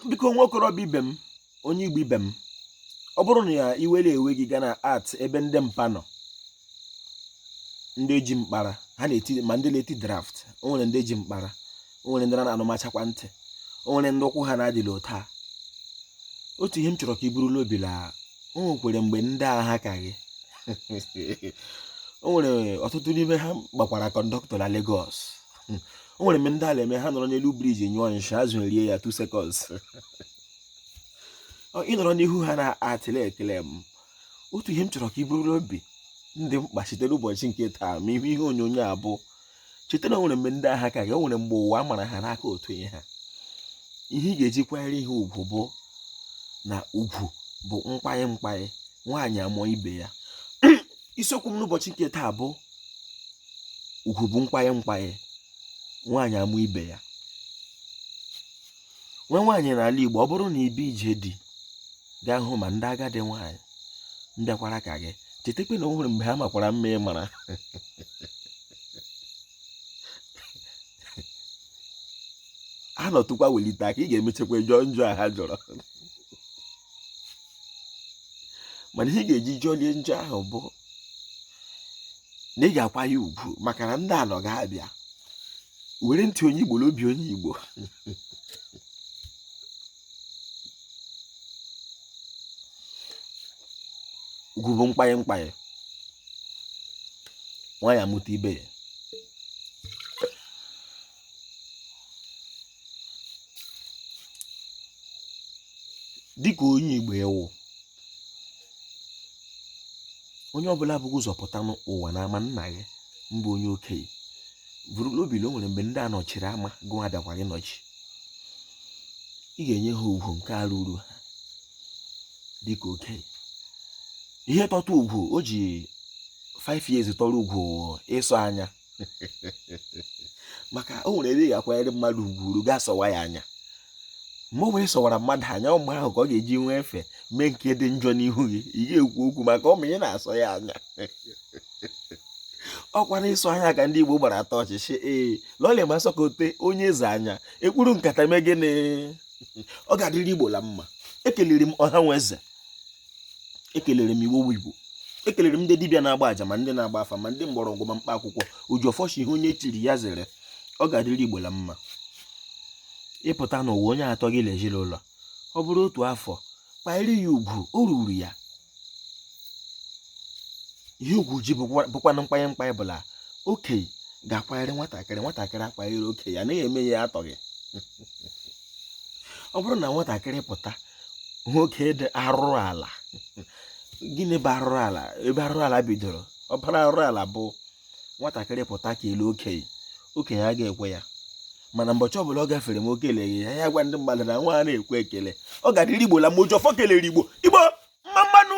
biko nwa okorobịa ibe m onye igbo ibe m ọ bụrụ na ya i were onwe gị gaa na art ebe ndị mpa nọ ndị ji mkpara ha na-eti ma ndị na-eti draft o nwere ndị ji mkpara o nwere ndị na-anụmachakwa ntị o nwere ndị ụkwụ ha na-adịla ụta otu ihe m chọrọ ka i buru l'obi la o nwekwere mgbe ndị a ha ka gị o nwere ọtụtụ n'ime ha gbakwara conductor na Lagos hmm. o nwere mgbe ndị a la-eme ha nọrọ n'elu bridge nyụọ nshị azụ erie ya 2 seconds ị nọrọ n'ihu ha na-atịle ekele m otu ihe m chọrọ ka i buru obi ndị mpa site n'ụbọchị nke taa ma ị hụ ihe onyonyo a bụ cheta na o nwere mgbe ndị a ha ka gị o nwere mgbe ụwa mara ha n'aka otu ihe ha ihe ị ga-eji kwanyere ha ugwu bụ na ugwu bụ mkpanye mkpanye nwaanyị amụọ ibe ya isiokwu m n'ụbọchị nke taa bụ ugwu bụ mkpanye mkpanye nwaanyị amụọ ibe ya nwa nwaanyị n'ala Igbo ọ bụrụ na ị bịa ije di bịa hụma ndị agadi nwaanyị bịakwara ka gị chetakwa na o nwere mgbe ha makwara mma ị mara a nọtụkwa welite aka ị ga-emechakwa jọọ njọ a ha jọrọ mana ihe ị ga-eji jọlie njọ ahụ bụ na ị ga-akwanye ugwu maka na ndị anọ ga-abịa were ntị onye igbo n'obi onye igbo ugwu bụ mkpanye mkpanye nwaanyị amụta ibe ya dịka onye Igbo ị wụ onye ọbụla bu gị ụzọ pụta n'ụwa na ama nna gị mbụ onye okenye buru n'obi na o nwere mgbe ndị a nọchiri ama gụwa bịakwara ịnọchi ị ga-enye ha ugwu nke a ruru ha dịka okenye ihe tọta ugwu o ji 5 years tọrọ ugwu ịsọ anya maka o nwere ebe ị ga-akwanyere mmadụ ugwu ruo ị ga-asọwa ya anya mgbe ọbụla ị sọwara mmadụ anya mgbe ahụ ka ọ ga-eji nwee efe mee nke dị njọ n'ihu gị ị ga-ekwu okwu maka ọ ma ị na-asọ ya anya ọkwa na ịsọ anya ka ndị Igbo gbara atọ ọchịchị ee lọlịa ma a sọkata onye eze anya e kpuru nkata mee gịnị ọ ga-adịrị Igbo la mma ekelere m ọha nwe eze ekelere m igbo igbo ekelere m ndị dibịa na-agba aja ma ndị na-agba afa ma ndị mgbọrọgwụ ma mkpa akwụkwọ oji ọfọ sị ihe onye chiri ya zere ọ ga-adịrị igbo la mma ịpụta n'ụwa onye tọ gị l'ezi l'ụlọ ọ bụrụ otu afọ kwanyere ya ugwu o ruru ya ihe ugwu ji bụkwanụ nkwanye nkwanye bụ la okenye ga-akwanyere nwatakịrị nwatakịrị akwanyere okenye ya na-eme ya atọghị ọ bụrụ na nwatakịrị pụta nwoke dị arụrụ ala gịnị bụ arụrụ ala ebe arụrụ ala bidoro ọbara arụrụ ala bụ nwatakịrị pụta kelee okenye okenye a ga-ekwe ya mana mbọchị ọbụla ọ gafere ma o keleghị ya ya gwa ndị mmadụ na nwa a na-ekwe ekele ọ ga-adịrị igbo la mma oji ọfọ kelere igbo igbo mma mma nụ